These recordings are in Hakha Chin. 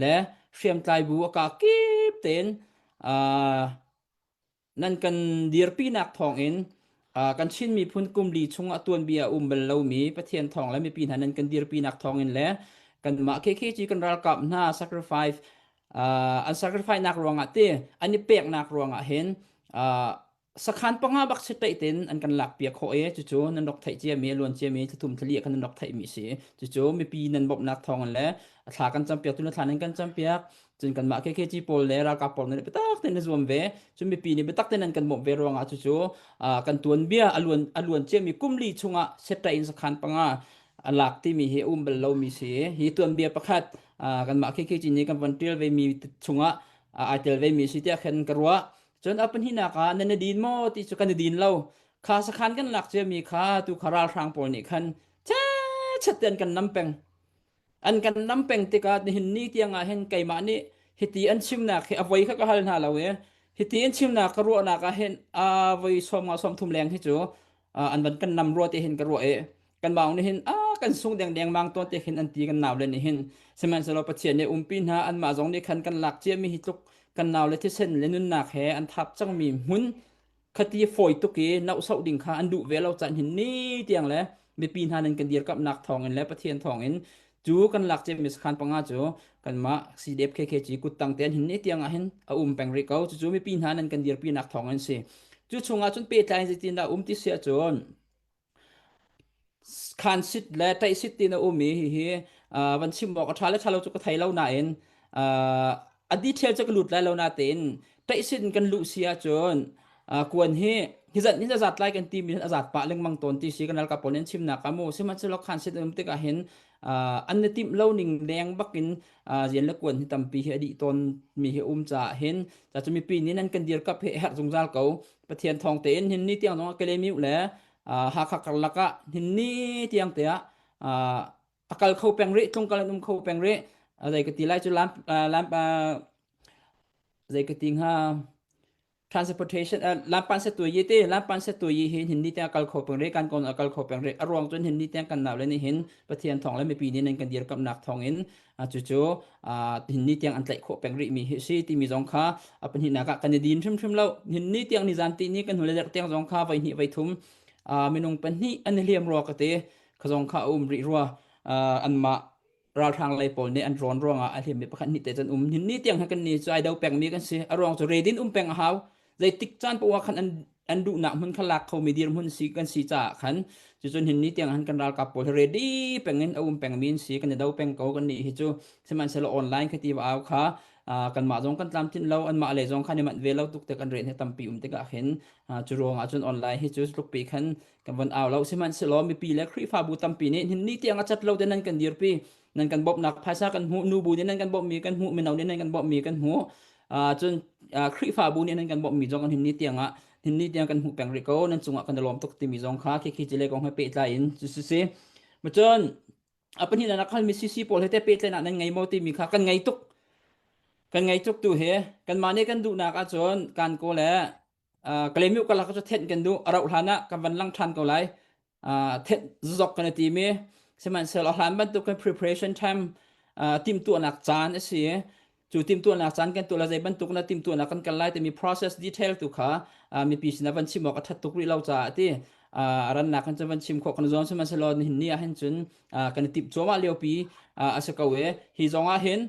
le hriamtlaibu a ka kip tein nan kan dirpinak thawngin kan Chin miphun kumli chung a tuanbia a um bal lomi Pathian thawng le mipi hna nan kan dirpinak thawngin le kanmah KKG kan ralkap hna sacrifice an sacrifice nak ruangah te an i peknak ruangah hin sakhan panga bak si taih tin an kan lak pia kho e cucu nan rak theih cia mi luan cia mi thum thali kan rak theih mi si cucu mipi nan bop nak thong le thla kan cham piak tu na thla nan kan cham piak cun kan mah KKG pawl le ralkap pawl ne betak ten zuam ve cun mipi ni betak ten an kan bop ve ruanga cucu kan tuan bia aluan aluan cia mi kumli chunga seta in sakhan panga alak ti mi hi um bel lo mi si hi tuan bia pakhat kan mah KKG ni kan van tial ve mi chunga ai tel ve mi si tia khen karwa cun a pahnihnak ah nan na din maw ti cu kan i din lo kha sakhan kan lak ciami kha tu kha ralhrang pawl nih khan chet ten kan nam peng an kan nam peng tikah nihin ni tiangah hin keimah nih hiti an chimnak hi avoi kha ka hal hna lo e hiti an chimnak ka ruahnak ah hin a voi sawm nga sawm thum leng hi cu uh, an van kan lam ruwa te hin ka ruwa e kan maung ni hin a kan sung deng deng mang to te khin an ti kan naw le ni hin sihmanhsehlaw pathian ne umpi hna an ma zong ni khan kan lak chia mi hi tluk kan naw le thisen le nun nak he an thap chang mi hun khati foi tuk i nau sau ding kha an du ve lo chan hin ni tiang le mipi hna nan kan dir kap nak thong in le pathian thong in cu kan lak cem mi sakhan panga cu kanmah CDF KKG kuttang te an hin ne tiang ah hin a um peng ri ko cucu mipi hna nan kan dirpi nak thawng an si cu chungah cun pehtlai zitin dah um ti sia cun khan sit le tei sit tin a um i hihi van chim awk a tha le thalo cu ka thei lo nain a detail cu ka lut lai lo natein taisin kan luh si ahcun kuan hi hizan hin azat lai kan timi hin azat pah lengmang tawn ti si kan alka pawl in chimnak amu sihmanhsehlaw khan sit um tik ahhin an na timh lo ning leng bakin zian le kuan hi tampi hi adi tawn mi hi um caah hin ca cu mipi nih nan kan dir kap hi herh zungzal ko pathian thawng tein hin ni tiang nong kelemiu le hakha karlak ah hin ni tiang te ah takal kho peng rih tlung kal an um kho peng rih zei ka ti lai cu lam lam zei ka ti hnga transportation lampan se tui yi te lampan se tui yi hi hin ni tiang kal kho peng rih kan kon a kal kho peng rih a ruang cun hin ni tiang kan naw le ni hin pathian thong le mipi ni nan kan dir kap nak thong in cu cu hin ni tiang an tlaih khawh peng rih mi hi si ti mi zong kha upon hi nak kan i din hrim hrim lo hin ni tiang ni zan ti ni kan hule der tiang zong kha vai ni vai thum minung pan ni an liam ro ka te ka zong kha a um rih rua uh, anmah ralhrang lei pawl nih an rawn ruangah a hliam mi pakhat hnih te cun um ni tiang ha kan ni cu ai do peng mi kan si a ruang cu redin um peng a hau zeitik caan pawa khan an an duh nak hmun kha lak kho mi dir hmun si kan si ca khan cu cun hin ni tiang han kan ralkap pawl hi ready pengin a um peng mi si kan i do peng ko kan ni hi cu sihmanhselo online ka ti wa au kha kan mah zong kan tlam tin lo an mah le zong khan i mat ve lo tuk te kan re ne tampi um tikah hin cu ruangah cun online hi cu tluk pi khan kan von au lo sihmanhsehlaw mipi le Khrihfabu tampi nih hin ni tiang a cat lo te nan kan dirpi nan kan bawmhnak phaisa kan hmuh nu bu nih nan kan bawmhmi kan hmuh mino nih nan kan bawmhmi kan hmuh cun Khrihfabu nih nan kan bawmhmi zong hin ni tiang ah hin ni tiang kan hmuh peng rih ko nan cungah kan i lawm tuk timi zong kha khi khi cile kong he pehtlai in cu si si macun a pahnih nak hal mi CC pawl he te pehtlai nak nan ngei mo timi kha kan ngei tuk kan ngei tuk tu he kan mah nih kan duhnak ahcun kan ko le uh, kalemiu kalak cu thenh kan du arau hlan ah kan van lang than ko lai uh, thenh zok kan ti mi sihmanhsehlaw hlan bantuk kan preparation time uh, tim tu nak caan asi cu tim tu nak caan kan tu la zei bantuk na tim tu nak kan kal lai ti mi process detail tu kha uh, mi pi sin van chim ok that tuk ri lo cha ti uh, ran nak kan van chim kho kan zon sihmanhsehlaw hin ni ah hin cun uh, kan tip choma leo pi uh, asa ko e hi zonga hin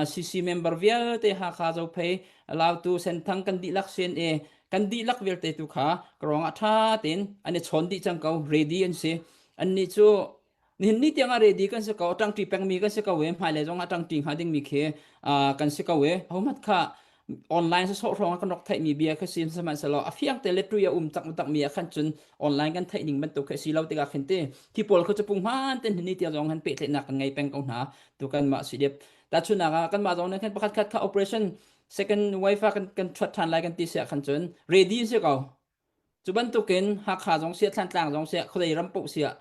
CC member vialte Hakha Zophei Lautu Senthang kan dihlak sin i kan dihlak vialte tu kha krong ah tha tein an i chon dih cang ko ready an si an ni cu nihin ni tiang ah ready kan si ko tangti pengmi kan si ko e hmai le zong ah tangti hnga dingmi khi kan si ko e homat kha online se so hrong kan rak thai mi bia kha si sihmanhsehlaw a fiang te le tu ya um tak tak mi khan cun online kan thai ning bantuk kha si lo tika khin ti hi paul khu chapung man ten ni tia zong han pe tle nak kan ngai peng ko hna tu kan ma si dep ta chuna ga kan ma zong ne khan pakhat khat kha operation second wife kan kan thrat than lai kan ti sia khan cun ready se ko Cu bantukin Hakha zong siah Thlantlang zong siah khuadei ram paoh siah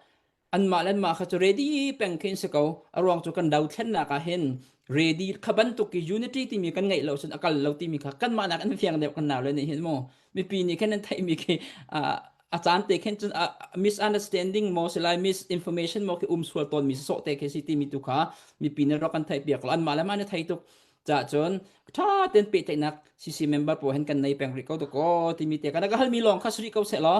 anmah le anmah kha cu ready peng khi an si ko. A ruang cu kan do thlennak ah hin ready kha bantuk i unity timi kan ngeih lo cun a kal lo timi kha kanmah nak in an fiang deuh kan nau le nih hin mu mipi nih khin an theihmi khi uh, a caan te khin cun uh, misunderstanding mo si lai misinformation mo khi um sual tawnmi sawh te khi si timi tu kha mipi nih rak kan theih piak lo anmah le ma na thei tuk Cahcun ṭha tein pehtlaihnak sisi member pawl hen kan nei peng rih ko dakaw timi te kan ka halmi lawng kha si rih ko seh law